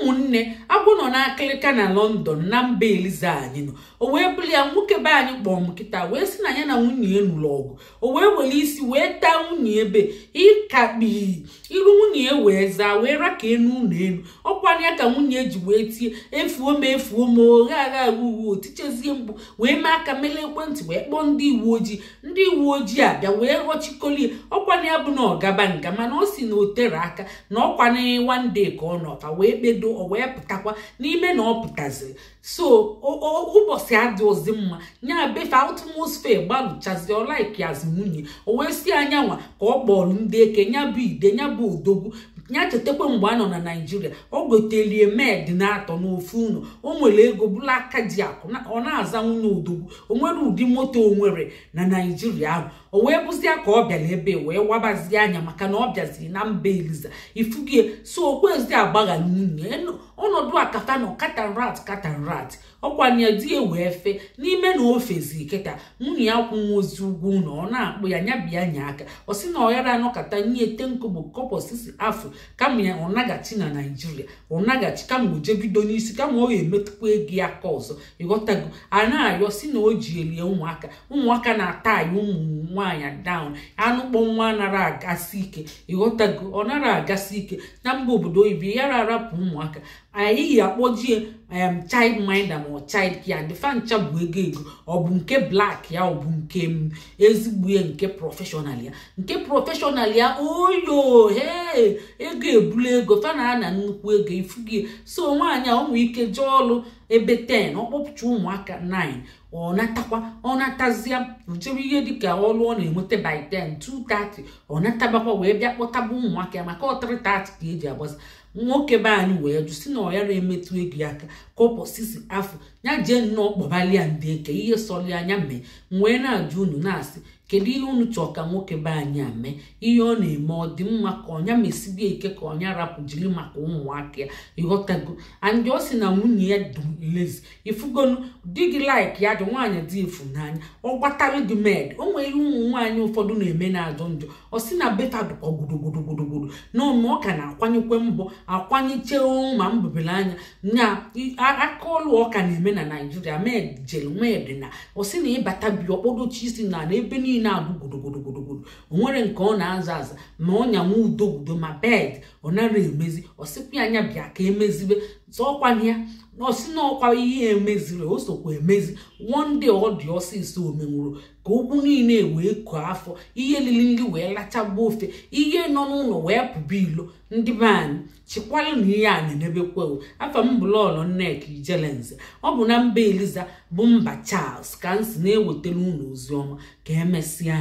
ụmụnne agwọ nọ n'akịlịka na lọndọn na mba eliza anyị nọ o wee bụrụ ya nwoke be anyị kpọọ m kịta wee sị na ya na nwunye ya nụrụ ọgụ o wee were isi wee taa nwunye ebe ịkakpi iru nwunye ya wee zaa wee ra ka enu ụlọ elu ọkwara ya ka nwunye ji wee tie efuo m efuo m oghe agha uwe o tichezie mkpu wee mee aka wele ekwentị wee kpọọ ndị uwe ojii ndị uwe ojii abịa wee ghọchikoli ya ọ kwa nya bụ na ọ gaba nga mana ọ sị na o tere aka na ọ kwa na one day ka ọ nọta wee kpedo o wee pụtakwa n'ime na ọ pụtaziri so ụbọchị adịrọzi mma nya bụ ife atmosphere gbalụchazi ọ laikiazi nwunye o wee sị a nyanwa ka ọ kpọrọ ndị eke nya bụ ide nya bụ odogwu ya chetakwa mgbe a nọ na naijiria ọ gotelie maid na atọ n'ofu ụlọ o nwere ego bụlụ aka ji akụ ọ na-aza nwunye odogwu o nwere ụdị moto o nwere na naijiria ahụ o wee bụzia ka ọ bịara ebe a wee wabazie anya maka na ọ bịaziri na mba eliza ifugie so o kwezi agbaghara nwunye ọnọdụ a kata na cat and rat cat and rat ọkwanye di ya wee fe n'ime na o fezi kịta nwunye ya akwụnwọzi ụgwọ ụlọ ọ na-akpọ ya nya bịa nye aka ọ sị na ọ yara anọkata nye ten kobo kọpọ sisi afụ kama ya ọ naghachi na naijiria ọ naghachi kama o je bido n'isi kama ọ ya emetụkwa ego ya aka ọzọ ịghọtago a na-arịọ sị na o ji elie ụmụaka ụmụaka na-atayị ụmụ nwaanyị down anụ kpọ nwa anara agasị ike ịghọtago ọ nara agasị ike na mba obodo oyibo ị ya ra arapụ ụmụaka anyị yi akpọjie em child minder ma ọ child care ndị fa ncha bụ ego ego ọ bụ nke black ya ọ bụ nke m ezigbo ya nke prọfeshọnal ya nke prọfeshọnal ya oyo he ego ebula ego fa na-ana nnukwu ego ifugie so nwaanyị a nwee ike jee ọlụ ebe 10 ọ kpọpụcha ụmụaka 9 ọ natakwa ọ natazia o jewe ihe dịka ọrụ ọ na-enweta by 10 2:30 ọ natabakwa wee bịa kpọtaba ụmụaka ya maka ọ 3:30 ka e ji agbasa nwoke be anyị wee jụ sị na ọ ya ra emetụ ego ya aka kọpọ sisi afụ ya jee nnọọ kpọbalia ndị eke ihe sọrọ ya nya mee m wee na-ajụ unu na-asị kedu ihe unu chọọ ka nwoke be anyị a mee ihe ọ na-eme ọ dị mma ka ọ nya mesibe ike ka ọ nya rapụ jiri maka ụmụaka ya ịghọtago and ọ sị na nwunye ya dị lazy ifugonu di gị like ya di nwaanyị di fụ n'anya ọ gbatara gị maid o nwere ihe ụmụ nwaanyị ụfọdụ na-eme na-ajọ njọ ọ sị na be fa dụkwa gudugudu na ọnụ ọ ka na-akwanyekwa mbọ akwanyechee ma mbụbere anya na aka ọlụ ọ ka na-eme na naijiria maid jere maid na ọ sị na ị bata be ọ kpọdochi isi n'ana ebe niile abụ gudugudu o nwere nke ọ na-aza aza ma ọnya ududo ma bed ọ nara emezi ọ sịkwa ya anya bịa ka emezibe zọọkwana ya na ọ sị na ọkwa ihe emeziri o sokwa emezi wonde ọ dị ọsịsọ omenwuru ka okwu niile wee koo afọ ihe lili nri wee lachagbuo ofe ihe nọ n'ụlọ wee pụba ilo ndị be anyị chịkwalụ na ihe a na-emebekwa o afa m bụ lọlọ nneka ijelenze ọ bụ na mba eliza bụ mba charles ka m si na-ewetara unu ozi ọma ka emesịa